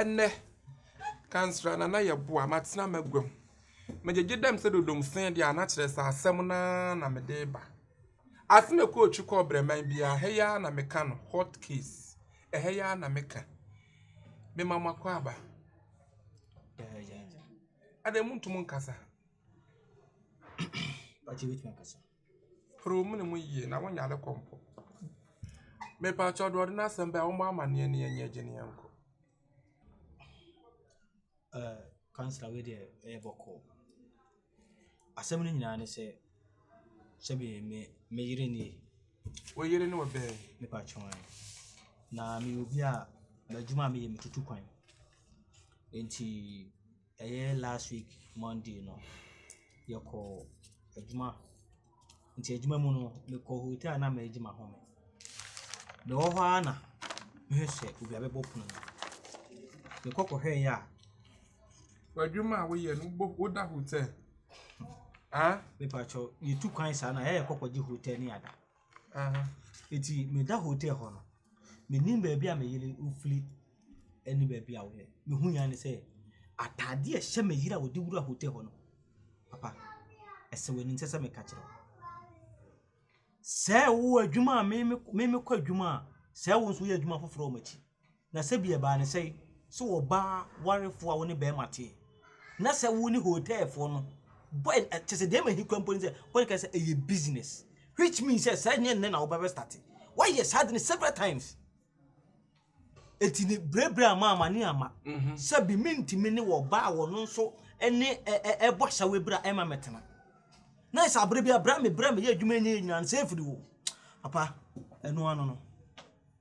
Ɛnnɛ, kansra na na yɛboa, matena m'aguam. Megyegye dam sɛ dodomsee de a, na kyerɛ sɛ asɛm no ara na mede reba. Ase mekɔ otwi kɔ ɔbraman bi a, ɛha yi ara na meka no, hot case, ɛha yi ara na meka. Mema mo akwaaba. Adɛn, monto mu nkasa? Hwere wo mene mu yie na wonyare kɔ mpo. Mepakyɛw deɛ ɔde n'asɛm baeɛ ɔmmɔ amaneɛ ne yɛnyɛ agye ne yɛnkɔ. Eh, councillor wei deɛ ɛyɛ bɔkɔɔ. Asɛm no nyinaa ne sɛ sɛbi me me yere nie. Wo yere ne ɔbɛn? Mepa kyɛw ɛ. Na meyɛ obi a m'adwuma a meyɛ metutu kwan. Enti Ɛyɛ last week Monday no, yɛkɔɔ adwuma. Nti adwuma mu no, mekɔɔ hotel a na meregye m'ahome. Mewɔ hɔ ara na mehu sɛ obi abɛbɔ pono no. Mekɔ kɔhwɛeɛ a. W'adwuma a woyɛ no, wobɔ woda hotel? Ah? Mepakyɛw, yɛtu kwan saa no a, ɛyɛ a yɛkɔ kɔgye hotel ne yɛada. Aha, eti meda hotel hɔ no, menim baabi a me yere firi ne baabi a ɔyɛ. Me hui ara ne sɛ, ataade a ɛhyɛ me yere a ɔde wura hotel hɔ no, papa, ɛsɛ w'ani nsɛ sɛ meka kyerɛ wo. Sɛ ɛwɔ adwuma a me mekɔ adwuma a, sɛ wo nso woyɛ adwuma foforɔ wɔ m'akyi. Na sɛ bi ɛbaa no sɛ, sɛ ɔbaa warefoɔ a wo ne bɛɛma teɛ, na sɛ wo ne hotelfoɔ no bɔ, kyɛ sɛ deɛ ɛma ɛhi kura mpo ne sɛ, wo ne ka sɛ ɛyɛ business, which means sɛ saa nyɛ nnɛ na wobɛbɛ starte, woayɛ saa de no several times. Eti ne berɛberɛ ama amane ama, mhm. sɛ bi mentumi ne wɔ baa wɔ no nso ne ɛbɔ asawe berɛ a ɛma mɛtena. Na ɛsɛ abere bi a berɛ a me berɛ a meyɛ adwuma nyɛ nyinaa no sɛ ɛfiri wo, papa, ɛno ano no.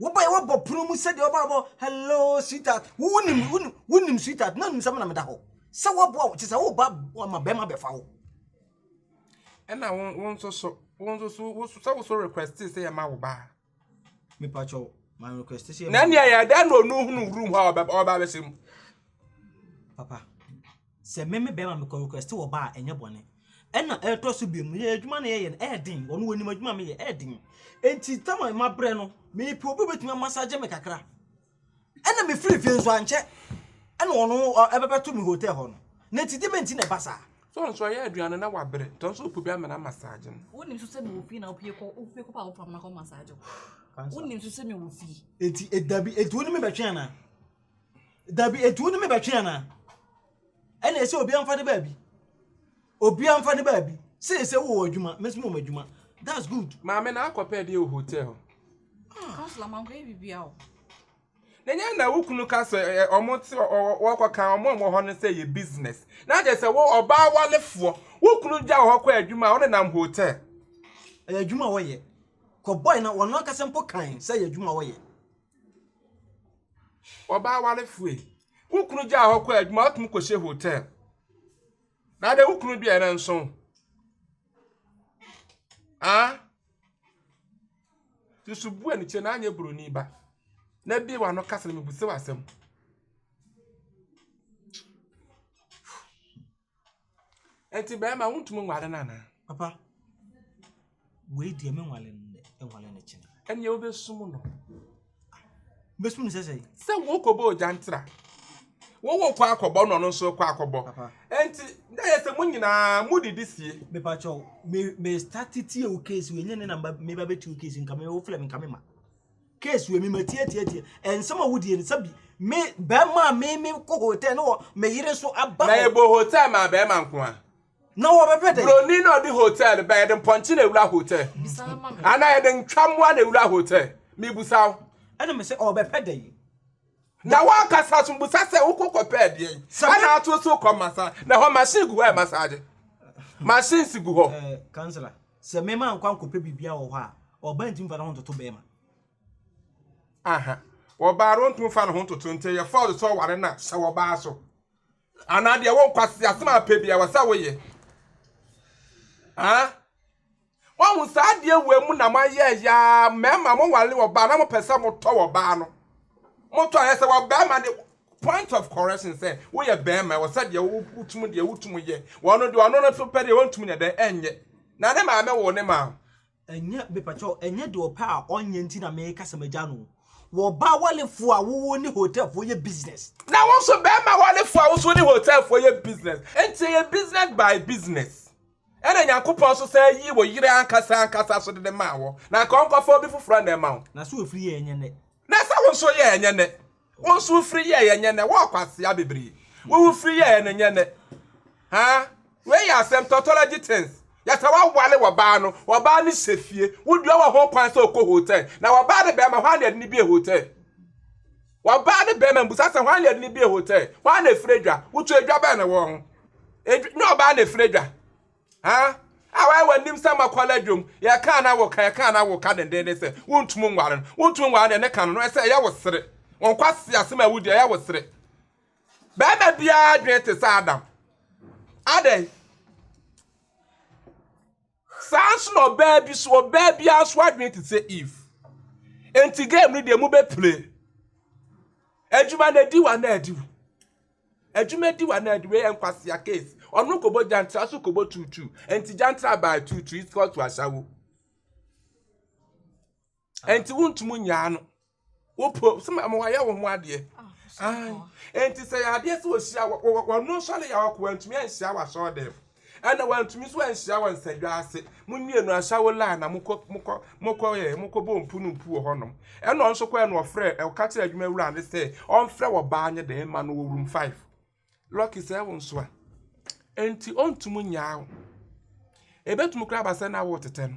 Wobae wabɔ pono mu sɛdeɛ ɔbaa bɔ hello sweetheart wo nim wo nim wo nim sweetheart na nim sɛ mo na meda hɔ sɛ waboa wo te sɛ woba ma bɛrima bɛfa wo. ɛna wo wo nso so wo nso so wo so sɛ wo so request sɛ yɛ ma wo ba. mepa kyɛw ma request sɛ yɛ ma. na nea yɛ dɛ na onu hunu room hɔ a ɔbɛ ɔbɛ abɛsɛ mu. papa. Sɛ me me bɛrima mekɔ request wɔ bar a ɛnyɛ bɔne. Ɛna ɛtɔ so bio mu yɛ adwuma no yɛyɛ no ɛyɛ den ɔno ɔnim adwuma a meyɛ ɛyɛ den nti tam a mabrɛ no mepɛ obi a obetumi amasagye me kakra ɛna mefiri fie nso ankyɛ ɛna ɔno ɛbɛbɛto me hotel hɔ no na nti deɛ mɛnti na ɛba saa. So nso ɔyɛ aduane no na wabrɛ nti ɔno nso ɔpɛ obi ama no amasagye no. Wonim nso sɛ mewɔ fie na wopie kɔ wopie kɔ pa a wopam no akɔ masagye wo wonim nso sɛ mewɔ fie. Nti dabi nti wo ne me bɛtwe anaa. Dabi, enti wode me bɛtwe anaa? Ɛna ɛsɛ obi amfa ne baabi. Obi amfa ne baabi. Sɛ sɛ wowɔ adwuma, me nso mewɔ adwuma. That's good. Maame na akɔpɛ deɛ wɔ hotel. Counselor, man kɔyɛ bibia o. Na nyɛ na wo kunu ka sɛ ɛ ɔmo te wɔkɔ kan ɔmo a wɔhɔ no sɛ yɛ business. Na kyɛ sɛ wo ɔbaa walefoɔ wo kunu gya wɔ hɔ kɔ adwuma a wo nenam hotel. Ɛyɛ adwuma wɔyɛ. Kɔ boy na wɔn ankasa mpo kan sɛ yɛ adwuma wɔyɛ. Ɔbaa warefo yi, wo kunu gyaa hɔ kɔɔ adwuma, wotumi kɔhyɛ hotel. Na deɛ wo kunu deɛ no nso. Ah? Susu bu ani kyɛ na anyɛ buroni ba. Na bie w'ano kasa na mebisa w'asɛm. Enti bɛrima wontumi nware no anaa? Papa, wei deɛ menwale no nnɛ, menwale no kyena. Ɛnneɛ wobɛsum no. Mɛsum no sɛ sɛn? Sɛ wokɔbɔ ogyantra. Wowɔ kɔ akɔbɔ na ɔno nso kɔ akɔbɔ. Papa. Enti na yɛ sɛ mo nyinaa modidi sie. Mepa kyɛw, me me start tie wo case wei nyɛ ne na meba bɛtie wo case nka me wofrɛ me nka me ma. Case wei me ma tie tie tie ɛnsɛm a wodie no sɛbi me bɛrima a me me kɔ hotel na wɔ me yere so aba Na yɛbɔ hotel maa bɛrima nko a. Na wɔbɛpɛ dɛn? Buroni na ɔde hotel no ba yɛde mpɔnkye na ewura hotel anaa yɛde ntwamoa na ewura hotel mebusa wo. Ɛna me sɛ ɔbɛpɛ dɛn? Na wankasa so busa sɛ wokɔ kɔpɛ adeɛ yi ɛna ato so kɔ masa na hɔ machine gu hɔ yɛ massage machine si gu hɔ. Ɛɛ kansila. Sɛ mmarima ankɔ ankɔpɛ biribiara wɔ hɔ a, ɔbaa ntumi mfa ne ho ntoto barima. Aha. Ɔbaa no ntumi mfa ne ho ntoto nti ɛyɛ fɔɔl sɛ ɔware no a hyɛ wɔ ɔbaa so. Anaa deɛ wo nkwasi asɛm a pɛ biara wɔ sɛ woyɛ. Ah. Wɔn saa adeɛ wɔ mu na mo ayɛ yaa mmarima mo ware ɔbaa na mo pɛ sɛ mo tɔ ɔbaa no. Mo tɔ ayɛ sɛ wɔ barima de Point of correction sɛ woyɛ bɛɛma ɛwɔ sɛ deɛ wotum deɛ wotum yɛ wɔ no deɛ ɔno no so pɛ deɛ wɔntum nyɛ dɛn ɛnyɛ na ne maame woo ne maa. Ɛnyɛ mepakyɛw ɛnyɛ deɛ ɔpɛ a ɔnyɛ nti na meka sɛ magya no wɔ ɔbaa walefoɔ a wowo ne hotelfoɔ yɛ business. Na wo nso bɛɛma walefoɔ a wo nso wo ne hotelfoɔ yɛ business nti ɛyɛ business by business ɛna Nyankopɔn nso san yii wo yere ankasa ankasa so dede maa wo na anka ɔnkɔfa obi foforɔ na ɛma wo. Na sɛ ofiri yɛ ɛnyɛ nɛ. Na sɛ wo nso yɛ ɛnyɛ nɛ. Wo nso wo firi yɛeɛ nyɛ nnɛ, wɔ kwasea bebree. Wo wo firi yɛeɛ no nyɛ nnɛ. Haa, wei yɛ asɛm, tautology things. Yɛ sɛ woawale w'ɔbaa no, w'ɔbaa no hyɛ fie, wo deɛ wɔ ho kwan sɛ ɔkɔ hotel, na w'ɔbaa ne bɛɛma, hwan na yɛde no bie hotel? W'ɔbaa ne bɛɛma mbusa sɛ hwan na yɛde no bie hotel? Hwan na ɛfiri adwa? Wotwa adwa bɛn na ɛwɔ ho? Adwa, nyɛ ɔbaa na ɛfiri adwa. Ha? A wayɛ w'anim sɛ makwala dwom. Yɛka na woka, yɛka na woka dendenden sɛ wontum nware no. Wontum nware no, ɛne ka no no, ɛsɛ ɛyɛ wo sere. Wɔn kwasi asɛm a wodi ɛyɛ wo sere. Bɛrima biara adwene te sɛ Adam. Adɛn? Saa nso na ɔbaa bi so, ɔbaa biara nso adwene te sɛ Eve. Enti game no deɛ mobɛpile. Adwuma na adi wo anaa adi wo. Adwuma di wana di wei nkwasea case ɔno kɔbɔ gyantra so kɔbɔ tuutu nti gyantra baa tuutu is called to asawo nti wontum nyaa no wopɔ sɛ ma wɔayɛ wo ho adeɛ nti sɛ yɛ adeɛ sɛ wɔhyia wɔno nsɔre yɛ awakoa ntumi anhyia wasɔɔ dɛm Ɛna wantumi nso anhyia wɔn nsadwa ase. Mo mmienu asawo la na mokɔ mokɔ mokɔ yɛ mokɔbɔ mpu no mpu wɔ hɔnom. Ɛna ɔno nso kɔɛ na ɔfrɛ ɔka kyerɛ adwuma wura no sɛ ɔmfrɛ wɔ baa nyɛ dɛn ma no wɔ room five. Lucky sɛ ɛwo nso a ɛnti ɔntumi nyaa wo. Ɛbɛtumi koraa aba sɛ na wo tetɛ no.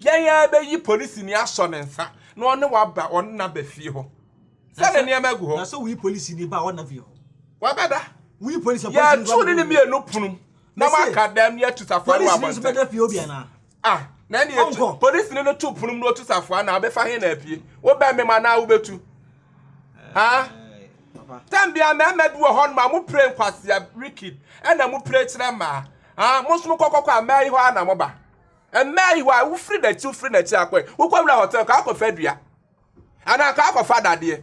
Dɛn ara bɛyi polisini asɔ ne nsa na ɔne wo aba ɔne no aba fie hɔ sɛ ne nneɛma gu hɔ. Na sɛ woyi polisini ba a ɔnna fie hɔ? Wabɛda. Woyi polisi a polisi Yɛtu ne ne mmienu pono na moaka dɛm na yɛatu safoa no wɔ abɔnten. Polisini nso bɛda fie hɔ bi anaa? Ah, na ɛne yɛtu. Polisini no to pono mu na ɔtu safoa no a, ɔbɛfa he na apue? Wobɛmem anaa wobɛtu? Ah, tɛm bia mmarima bi wɔ hɔ nom a mopire nkwasea, wicked, ɛna mopire kyerɛ mmaa. Ah, mo nso mokɔkɔkɔ a mmaa yi hɔ a na moba. Ɛmmaa yi, why? Wofiri n'akyi, wofiri n'akyi akɔe. Wokɔwura hotel, ka akɔfa dua. Anaa ka akɔfa dadeɛ.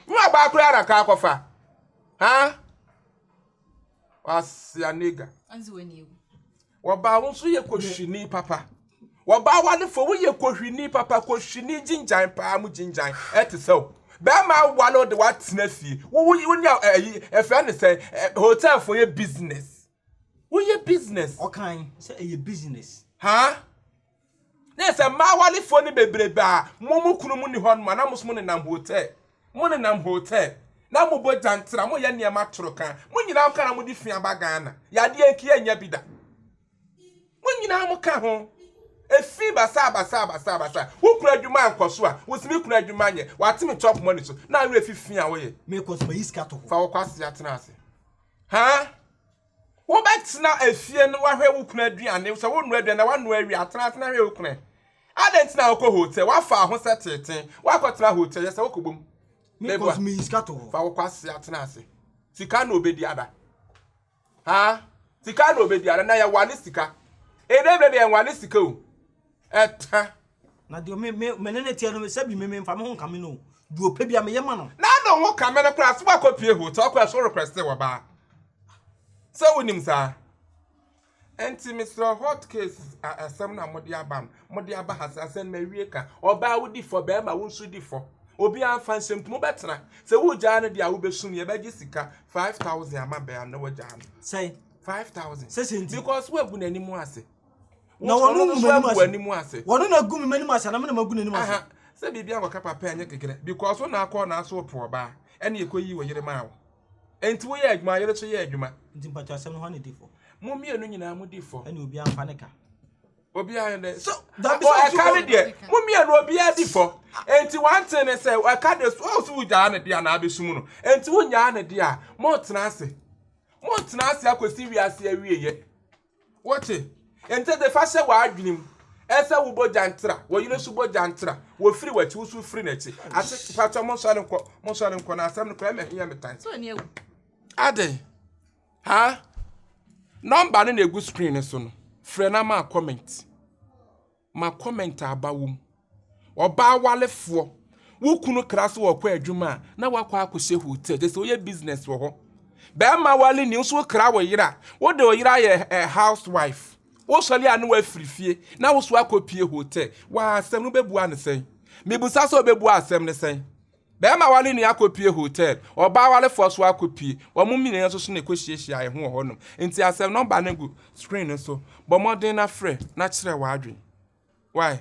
Nyɛ ɔbaa koraa na ka akɔfa. Ha? Wasia nigga. Wɔbaa wo nso yɛ kohwini papa. Wɔbaa wa ne fo, woyɛ kohwini papa, kohwini gyingyan paa mu gyingyan. Ɛte sɛ wo. Bɛrima awale wo de woatena fie. Wo wo ne ɛyi ɛfɛ ne sɛ hotel fo yɛ business. Woyɛ business. Ɔkae sɛ ɛyɛ business. Haa? Na ɛyɛ sɛ mmaa awarefoɔ no bebrebe a mo mo kunu mu nni hɔ nom a na mo nso mo nenam hotel. Mo nenam hotel. Na mo bɔ gyantra, mo yɛ nneɛma toroka. Mo nyinaa mo ka na mo de fi aba Ghana. Yadeɛ nki yɛ nnya bi da. Mo nyinaa mo ka ho. Efi basaa basaa basaa basaa. Wo kunu adwuma ankɔ so a, wo se me kunu adwuma nyɛ. Wate me chop money so. Na awerɛ fi fi a woyɛ. Mekɔ so mayi sika to hɔ. Fa wo kwasea tena ase. Ha, wobɛtena efie na woahwɛ wo kunu aduane, sɛ wonoa aduane na woanoa awie a, tena ase na hwɛ wo kunu. Adɛn nti na wokɔ hotel? Woafa ahosɛ teetee, woakɔtena hotel, yɛ sɛ wokɔbom. Meboa, fa wo kwasea tena ase. Sika na obedi ada. Ha, sika na obedi ada, na yɛwale sika. Ɛdɛ berɛ deɛ yɛnwale sika o. Ɛtɛ. Na deɛ me me me ne no teɛ no sɛbi me memfa me ho nkame no o, deɛ ɔpɛ biara meyɛ ma no. Na ne ho kame no koraa sɛ woakɔpue hotel koraa so requeste wabaa sɛ wonim saa nti mesrɛ hot case a asɛm no a mode aba no mode aba ha sɛ asɛm no mawie ka ɔbaa wodi fɔ bɛrima wo nso di fɔ obiara mfa nsɛm nti mobɛtena sɛ wogyaa no deɛ a wobɛsum yɛ bɛgye sika 5000 ama bɛa no na wagyaa no sɛn 5000 sɛsɛ nti because woagu n'anim ase na wɔn no ngu m'anim ase wɔn na gu m'anim ase na me na magu n'anim ase sɛ biribi a wɔka papa nyɛ kekere because so na akɔ na aso wɔpɛ ɔbaa ɛne ɛkɔ yi wɔ yere maa wo nti woyɛ adwuma yere so yɛ adwuma nti mpatwa asɛm no hɔ ne di fɔ mo mmienu nyinaa mo di fɔ ɛne obiara mfa ne ka obiara ne so dabi sɛ ɛka ne deɛ mo mmienu obiara di fɔ nti wante ne sɛ ɛka de so ɔso wogyaa ne deɛ anaa abɛsum no nti wonyaa ne deɛ a mo tena ase mo tena ase akɔsi wiase awieyɛ Wote nte de fa hyɛ w'adwenem sɛ wo bogya ntra, wɔ yere so bogya ntra, wɔ firi w'akyi, wo so firi n'akyi. Ase patɔ mo nsɔre nkɔ, mo nsɔre nkɔ na asɛm no kɔ ɛmɛ hiɛ me tan. Ade. Ha. Number no na egu screen no so no. Frɛ na ma comment. ma comment a aba wom. Ɔbaa warefoɔ, wo kunu kra so ɔkɔ adwuma a, na wakɔ akɔhyɛ hotel, kyerɛ sɛ woyɛ business wɔ hɔ. Bɛrima ware ni, wo nso wokra wo yere a, wode wo yere ayɛ eh, housewife. Wosɔre a ne wafiri fie, na wo so akɔpie hotel. Waa asɛm no wobɛbua no sɛn? Mebusa sɛ wobɛbua asɛm no sɛn? Bɛɛma ware nua akɔpue hotel, ɔbaa warefoɔ nso akɔpue, wɔn mmienia nso so na ɛkɔhyiahyia yɛn ho wɔ hɔ nom, nti asɛm number no gu screen no so, bɔ mmɔden na frɛ na kyerɛ w'adwene. Wai.